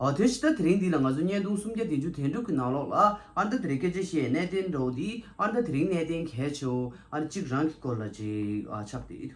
དོན་ཇི་ལྟར་དེ་རིང་འདི་ལ་ང་ཚོ་བརྙན་ཐུང་སུམ་བརྒྱ་བདུན་ཅུ་དེ་འགྲུབ་ཀྱི་ནང་ལོགས་ལ་ཨར་འདར་དེ་རིང་སྐད་ཆ་བཤད་གནས་བརྟན་འགྲོ་འདི་ཨར་འདར་དེ་རིང་གནས་བརྟན་གལ་ཆེའོ་ཨར་གཅིག་རང་གི་སྐོར་ལ་ཅིག་ཆགས་དེ་འདུག་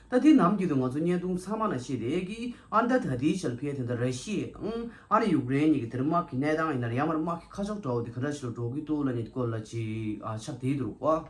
ད་དེ་ནམ་རྒྱུན་དུ་ང་ཚོ་བརྙན་ཐུང་ཚང་མ་ན་ཤེས་དེ་གི་ཨར་འདར་ད་ལྟའི་ཞལ་ཕེ་དེ་འདྲ་ར་ཤི་ཡའི་དང་ཨར་ཡུག་རེན་གཉིས་ཀྱི་དེར་དམག་གི་གནས་སྟངས་ཡིན་ནར་ཡང་མར་དམག་གི་ཁ་ཕྱོགས་འདྲ་བོ་དེ་ག་འདྲ་ཞིག་ལ་འགྲོ་གི་འདུག་ལ་ནི་སྐོར་ལ་ཅིག་ཆགས་དེ་འདུག་བ།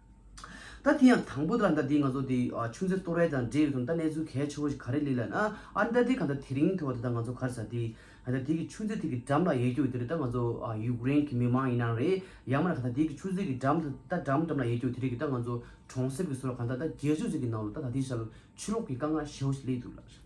ད་དེ་ཡང་དང་པོ་དེ་ལ་ཟླ་འདིའི་ང་ཚོ་དེ་ཆུ་མཛོད་སྟོད་རལ་དང་འབྲེལ་ཡོད་དུ་ད་གནས་ཚུལ་གལ་ཆེ་བོ་ཞིག་ག་རེ་ལུས་ལ་ན་ཨ་རི་ད་དེ་ག་ད་དེ་རིང་དེ་བ་དེ་ད་ང་ཚོ་གར་ས་དེ་ད་དེ་གི་ཆུ་མཛོད་དེ་གི་འགྲམ་ལ་ཡལ་རྒྱུ་ཡོད་དེ་རེད་ད་ང་ཚོ་ཡུག་རེན་གི་མི་མང་ཡིན་ན་རེད་ཡང་མ་ན་ག་ད་དེ་གི་ཆུ་མཛོད་གི་འགྲམ་དུ་ད་འགྲམ་འགྲམ་ལ་ཡལ་རྒྱུ་ཡོད་དེ་རེད་གི་ད་ང་ཚོ་གྲོང་གསེབ་གི་སུ་ལ་ག་ད་ད་རྒྱལ་ཆུ་མཛོད་གི་ནང་ལོ་ད་ད་དེ་ཞག་ལོ་ཆུ་ལོག་གི་དཀའ་ངལ་ཞེ་བོ་ཞིག་སླེབས་འདུག་ལགས།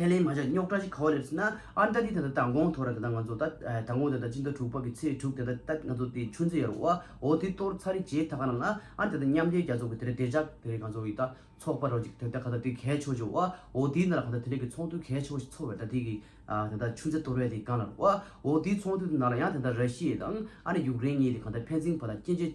ཁས་ལེན་མ་བྱ་རྙོག་དྲ་ཞིག་ག་བ་རེད་ཟེར་ན་ཨ་མྲ་ཏི་ད་ལྟ་དང་གོང་ཐོ་ར་དེ་དང་ང་ཚོ་ད་དང་གོང་དེ་ད་སྤྱི་ཟླ་དྲུག་པ་གི་ཚེས་དྲུག་དེ་ད་ད་ང་ཚོ་དེ་ཆུ་མཛོད་ཡར་བ་འོ་དེ་གཏོར་ཚ་རེ་བྱེད་ད་ག་རང་ན་ཨ་དེ་ད་མཉམ་རྒྱལ་རྒྱ་མཚོ་གི་དེ་རེད་དེ་ཇག་དེ་རེད་ང་ཚོ་ཡི་ད་ཚོགས་པ་རོ་ཅིག་དེ་ད་ག་ད་དེ་གས་ཆོ་ཅོ་བ་འོ་དེའི་ན་ར་ག་ད་དེ་རེད་གི་ཚོགས་འདུ་གས་ཆོ་བ་ཞིག་ཚོགས་བས་ད་དེ་གི་ཨ་དེ་ད་ཆུ་མཛོད་གཏོར་བས་དེ་གང་ལ་རོ་བ་འོ་དེའི་ཚོགས་འདུ་དེ་ན་ར་ཡང་དེ་ད་ར་ཤི་ཡའི་དང་ཨ་ར་ཡུག་རེན་གཉིས་དེ་གང་ད་ཕན་ཚིན་བ་ད་སྐྱེན་བྱེད།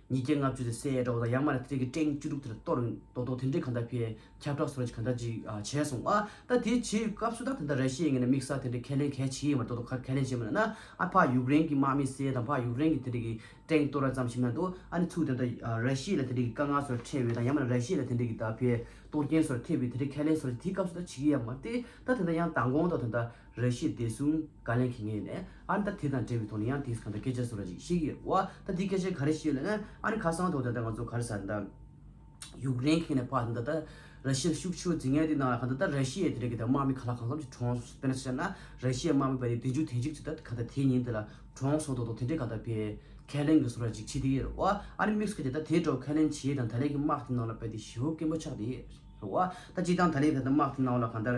ཉིས་བརྒྱ་ལྔ་བཅུ་ཚེ་སའི་གྲོགས་དང་ཡང་མ་རེད་ཐེ་རེ་གི་སྟེང་བཅུ་དྲུག་དེར་གཏོར་རིང་རྡོག་རྡོག་དེ་འདྲས་གང་འདྲ་བས་ཁྱབ་བསྒྲགས་སུ་རེ་གང་འདྲ་ཅིག་བྱས་སོང་ཨ། ད་དེ་བྱེད་སྐབས་སུ་ད་དེ་འདྲ་རེ་བྱེད་ངེས་ན་དམིགས་བསལ་དེ་འདྲའི་ཁས་ལེན་གལ་ཆེ་ཡི་མ་རེད་རྡོག་རྡོག་ཁ་ཁས་ལེན་བྱས་མ་ནུས་ན་ཨ་ཕ་ཡུག་རེན་གྱི་དམག་མི་བསད་དང་ཕ་ཡུག་རེན་གྱི་དེ་འདྲས་ཀྱི་སྟེང་གཏོར་ར་ཙམ་ཞིག་མ་འདུག་ཨ་ནི་ཚུགས་དེ་འདྲ་རེ་བྱེད་ལ་དེ་འདྲས་ཀྱི་དཀའ་ངལ་སོ་རེ་འཕྲད་འོས་དང་ཡང་མ་རེད་རེ་བྱེད་ལ་དེ་འདྲས་ཀྱི་ད་ཕའི་གཏོར་རྒྱན་སོ་རེ་ཐེབས་འོས་དེ་འདྲས་ཁས་ལེན་སོ་རེ་དེའི་སྐབས་སུ་ད་བྱེད་ཀྱི་ཡ་མ་རེད་ད་དེ་འདྲ་ཡང་མདང་དགོང་ཐོག་དེ་འདྲ་རེ་བྱེད་བདེ་སྲུང། བཀའ་ལན་གྱིས་ངེས་ནས་ཨ་ནི་ད་དེ་དང་འབྲེལ་བའི་ཐོག་ནས་ཡང་དེས་གང་འདྲ་སྐད་ཆ་བཟོ་ར་ཅིག་ཤེས་ཀྱི་ཡོད་བ་ད་དེ་སྐད་ཆ་ག་རེ་ཤེས་ཡོད་ལ་ན་ཨ་ནི་ཁ་སང་ཐོག་ད་ལྟ་ང་ཚོ་གར་ཟར་ད་ཡུག་རེན་ཁེངས་ནས་ཕར་ད་ད་ར་ཤི་ལ་ཤུགས་ཆེའོ་ཟིག་ངས་དེ་ནང་ལ་གང་ད་ད་ར་ཤི་ཡའི་དེ་རེད་གི་ད་དམག་མི་ག་ལ་གང་འཚམ་ཞིག་གྲོངས་སོང་དཔེར་ན་ཤར་ན་ར་ཤི་ཡའི་དམག་མི་བ་དེ་བདུན་ཅུ་ཐེངས་གཅིག་ཅིག་ད་ག་ད་དེའི་ཉིན་དེ་ལ་གྲོངས་སོང་ཐོག་ཐོག་དེ་འདྲས་ག་ད་བས་ཁས་ལེན་གི་བཟོ་ར་ཅིག་བྱེད་དེ་ཡི་རེད་བ་ཨ་ནི་དམིགས་སུ་བཀར་ཏེ་ད་དེའི་འགྲོ་ཁས་ལེན་བྱས་དང་ད་ལས་ཀི་དམག་དེ་ནང་ལ་བས་དེ་ཞི་བོ་སྐད་འབོ་ཆགས་དེ་ཡི་རེད་བ་ད་སྤྱི་དང་ད་ལས་ག་ད་དམག་དེ་ནང་ལ་གང་ད།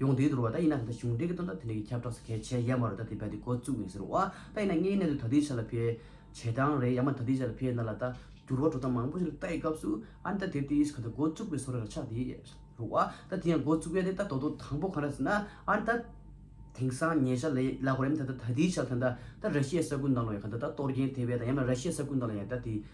ཡོང་དུས་འདུར་བ་ད་ཡིན་ན་ད་ལྟ་གཞུང་འབྲེལ་གྱི་དོན་དག་དེ་འདྲ་གྱི་ཁྱབ་བསྒྲགས་སུ་གལ་ཆེ་ཡ་མ་རུ་ད་དེ་བས་དེ་འགོ་བཙུགས་ཡིན་ཟེར་བ་ད་ཡིན་ན་དངོས་གནས་དུ་ད་དུས་ཆ་ལ་ཕེ། བྱེད་སྟངས་རེད་ཡ་མ་ད་དུས་ཆ་ལ་ཕེ་ན་ལ་ད་འགྱུར་བ་འགྲོ་སྟངས་མང་པོ་ཞིག་ལ་ལྟ་ཡི་སྐབས་སུ་ཨ་ནི་ད་དེ་དུས་གང་ད་འགོ་བཙུགས་པའི་སོ་རེ་ར་ཆགས་དེ་རུ་བ་ད་དེ་ཡང་འགོ་བཙུགས་ཡ་དེ་ད་དོ་དོ་དང་པོ་གང་རེད་ཟེར་ན་ཨ་ནི་ད་དེང་སང་ཉེ་ཆར་ལ་ཡ་གོ་ར་ཡ་མ་ད་ད་དུས་ཆ་ལ་ད་ད་ར་ཤི་ཡའི་ས་ཁུལ་ནང་ལ་ཡང་གང་ད་ད་གཏོར་རྒྱན་དེ་བས་དང་ཡ་མ་ར་ཤི་ཡའི་ས་ཁུལ་ནང་ལ་ཡང་ད་དེ།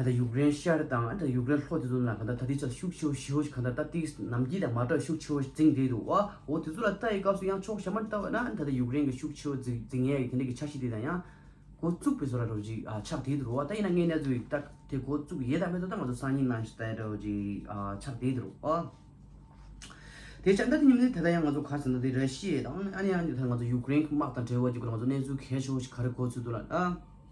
ད་ལྟ་ཡུཀ་རེན་ཤར་དང་ཨ་ད་ཡུཀ་རེན་ལྷོ་དེ་ཚོ་ན་གང་ལྟར་ད་དེ་ཚོ་ལ་ཤུགས་ཆེ་བོ་ཞེའོ་ཞིག་གང་ལྟར་ད་ཏིག་གིས་ནམ་དཀྱིལ་དང་མ་བྲག་ཤུགས་ཆེ་བོ་འཛིང་བསྡད་འདུག་བ་འོ་དེ་ཚོ་ལ་ལྟ་ཡི་སྐབས་སུ་ཡང་ཕྱོགས་ཞབས་མར་ལྟ་བ་ན་ད་ལྟ་ཡུཀ་རེན་གྱི་ཤུགས་ཆེ་བོ་འཛིང་ཡས་ཀྱི་དེ་འདྲ་གྱི་ཆ་ཤས་དེ་དང་ཡང། འགོ་བཙུགས་པའི་བཟོ་ལ་འགྲོ་ཅིག་ཨ་ཆགས་བསྡད་འདུག་བ་ད་ཡིན་ན་ངས་གནས་ཚུལ་ལྟར་དེ་འགོ་བཙུགས་ཡས་དང་མེད་དོ་ད་ང་ཚོ་སང་ཉིན་ནང་ཞིག་ལྟ་འགྲོ་ཅིག་ཨ་ཆགས་བསྡད་འདུག་བ། དེ་བྱ་ད་དེ་ཉིན་མོ་ད་ད་ཡང་ང་ཚོ་གར་ཟེར་ན་དེ་ར་ཤི་ཡས་དང་ཨ་ནེ་ཨ་ནེ་ད་ང་ཚོ་ཡུཀ་རེན་གྱི་དམག་དང་བྲལ་བ་ཅིག་གོ་ང་ཚོ་གནས་ཚུལ་གལ་ཆེ་བོ་ཞིག་ག་རེ་འགོ་ཚུགས་འདུག་ལ་ཨ།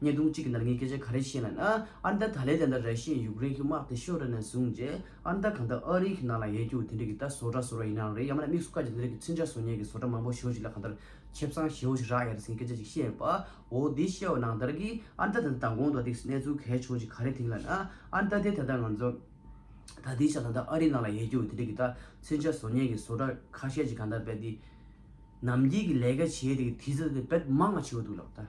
བརྙན་ཐུང་གཅིག་གི་ནང་གི་སྐད་ཆ་ག་རེ་བཤད་ན་ན་ཨར་འདར་ད་ལས་དེ་འདྲ་རེ་བཤད་ཡུག་རེན་གི་དམག་དེ་ཤོར་རེ་ན་བཟུང་རྗེས་ཨར་འདར་གང་འདྲ་ཨ་རི་གི་ནང་ལ་ཡལ་རྒྱུག་དེ་འདྲི་གི་ད་བཟོ་གྲ་བཟོ་ར་ཡིན་ནའང་རེད་ཡང་མ་ན་དམིགས་སུ་བཀར་གྱི་དེ་འདྲི་གི་ཚུན་ཆ་བཟོ་ཉེས་གི་བཟོ་གྲ་མང་པོ་ཤོར་ཞིག་ལ་གང་འདྲ་ཁྱེད་བཟང་ཞེའོ་ཞིག་རག་ཡ་རེ་ཟིན་གི་སྐད་ཆ་ཅིག་བཤད་ཡོད་པ་འོ་དེ་བཤད་བ་ནང་འདར་གི་ཨར་འདར་ད་ལྟ་མདང་དགོང་དུ་ཨ་ཏིགས་གནས་ཚུལ་གལ་ཆོག་ཅིག་ག་རེ་དེང་ལ་ན་ཨར་འདར་དེ་ད་ལྟ་ང་ཚོ་ད་དེའི་ཆ་ད་ལྟ་ཨ་རི་ནང་ལ་ཡལ་རྒྱུག་དེ་འདྲི་གི་ད་ཚུན་ཆ་བཟོ་ཉེས་གི་བཟོ་གྲ་ཁ་ཤས་ཅིག་གང་འདྲ་བེད་དེ་ནམ་རྒྱིས་གི་ལས་ཀ་བྱེད་དེ་གི་དེ་ཚོ་དེ་བེད་མང་ང་བྱེད་འོ་འདུག་ལགས་ད།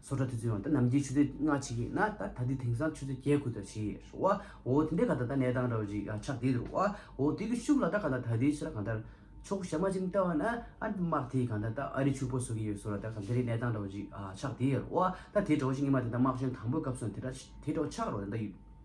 སོ་ཁྲ་དུས་ཚོད་ཡོང་ད་ནམ་རྒྱལ་ཆུ་ཚོད་ལྔ་ཕྱི་གི་ན་ད་ད་དུས་དེང་སང་ཆུ་ཚོད་བརྒྱད་དགུ་ད་ཕྱི་རོ་ཨ་འོ་དེ་འདྲའི་ག་ད་ད་གནས་སྟངས་ར་བ་རི་ཡ་ཆགས་དེ་རོ་ཨ་འོ་དེ་གི་ཤུགས་ལ་ད་ག་ད་ད་དེའི་ཕྱི་ར་གང་ལྟར་ཕྱོགས་ཞབས་མ་ཅིམ་ལྟ་བ་ན་ཨ་དམག་དེ་གང་ད་ད་ཨ་རི་ཕྱུག་པོ་བཟོ་གི་ཡོད་སོ་ར་ད་ག་འདི་རི་གནས་སྟངས་ར་བ་རི་ཡ་ཆགས་དེ་རོ་ཨ་ད་དེ་གྲོགས་ཤིག་ཉི་མ་དེ་ད་དམག་གཞོན་དང་པོའི་སྐབས་སོང་དེ་ད་དེ་གྲོགས་ཆགས་རོ་ད་ད་ཡུལ།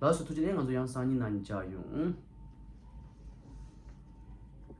ལགས་སོ་ཐུགས་རྗེ་ལེགས་ང་ཚོ་ཡང་སང་ཉིན་ནང་ཉིན་བཅར་ཡོང།